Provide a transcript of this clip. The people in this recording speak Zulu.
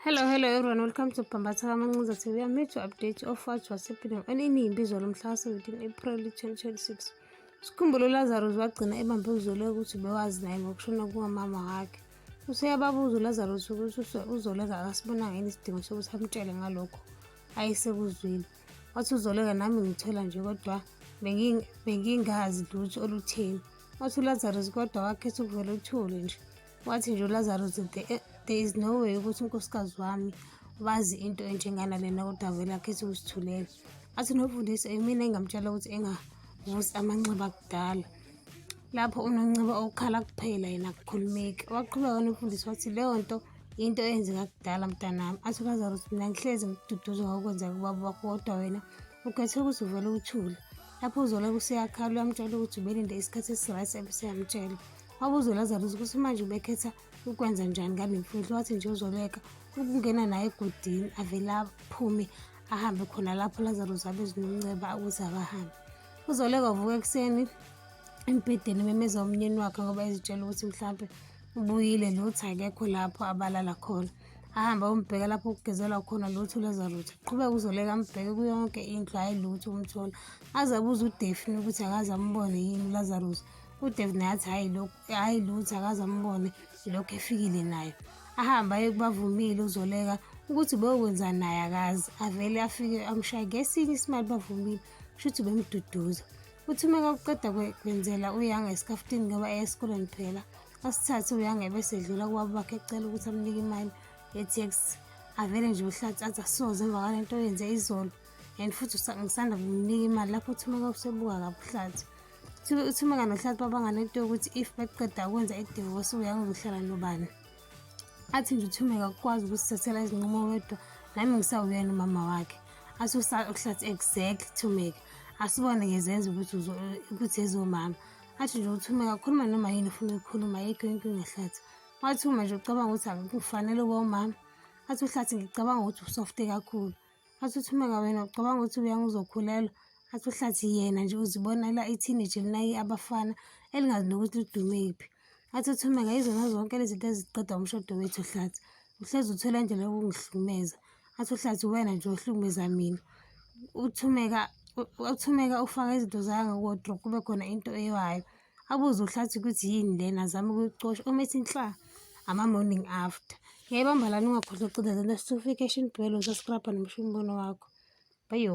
Hello, hello everyone. Welcome to Pambatha Kamancuza TV. I'm here to update you of what was happening on inimbizo lomhla wa-17 April 2026. Sikhumbulo uLazarus wagcina ebambe uzolo ukuthi bewazi naye ngokushona kukamama wakhe. Useyababuza uLazarus ukuthi uzoleka akasibonanga yini isidingo sokuthi amtshele ngalokho ayesekuzwile. Wathi uzoleka nami ngithola nje kodwa bengingazi lutho olutheni. Wathi uLazarus kodwa wakhetha ukuvela uthule nje. wathi nje ulazarus there, eh, there is no way ukuthi unkosikazi wami bazi into enjengana lena kodwa vele akhethi ukusithulela athi nofundisi imina engamtshela ukuthi engavusi amanxiba kudala lapho unonciba okukhala kuphela yena kukhulumeki waqhubeka nofundisi wathi leyo nto into eyenzeka kudala mntanami athi ulazarus mina ngihlezi ngiduduzwa ngokwenzeka kubaba wakho kodwa wena Ukhethe ukuzivela uthule. Lapho uZola kuseyakhala uyamtshela ukuthi ubelinde isikhathi esi-right ebeseyamtshela. Wabuza uLazarus ukuthi manje ubekhetha ukwenza njani ngale mfihlo wathi nje uzoleka ukungena naye egodini avele aphume ahambe khona lapho Lazarus abezinomnceba ukuthi akahambe. Uzoleka uvuka ekuseni embhedeni memeza umnyeni wakhe ngoba ezitshela ukuthi mhlawumbe ubuyile lutho akekho lapho abalala khona. ahambe ayombheka lapho kugezelwa khona lutho leza lutho qhubeka uzoleka ambheke kuyonke indlu hhayi lutho umthola aze abuze udefini ukuthi akaze ambone yini ulazarus udevin athi hhayi lokhu hhayi lutho akaze ambone ilokhu efikile nayo ahambe aye kubavumile uzoleka ukuthi beyokwenzani naye akazi avele afike amshaye ngesinye isimali bavumile kusho ukuthi bemduduza uthi uma kakuqeda kwenzela uyanga esikafutini ngoba eya esikoleni phela asithathe uyangebe sedlula kubaba bakhe ecela ukuthi amnike imali ye-tx avele nje uhlathi athi asoze emva kwale nto yenze izolo and futhi ngisanda kumnika imali lapho uthumeka usebuka kabuhlathi uthumeka nohlathi babangane into yokuthi if beqeda ukwenza idivosi uyangizohlala nobani athi nje uthumeka kukwazi ukusithathela izinqumo wedwa nami ngisawuyena umama wakhe athi uhlathi exact thumeka asibone ngezenza ukuthi ezomama athi nje ukuthi uma kakhuluma noma yini ufuna ukukhuluma ayikho inkinga hlathi wathi uma nje ucabanga ukuthi akufanele uba umama athi uhlathi ngicabanga ukuthi usofte kakhulu athi uthi uma kawena ucabanga ukuthi uyange uzokhulelwa athi uhlathi yena nje uzibonela iteenage linayi abafana elingazi nokuthi ludume yiphi athi uthi uma kayizona zonke lezi zinto eziqeda umshodo wethu hlathi uhlezi uthola indlela yokungihlumeza athi uhlathi uwena nje ohlukumeza mina uthumeka uthumeka ufaka izinto zayo ngewardrobe kube khona into eyiwayo abuze uhlathi ukuthi yini lena azame ukucosha uma ethi nhla ama-morning after ngiyayibamba lani ungakhohlwa ucida zento sifike eshintwelo sasirabha nomusho umbono wakho bayo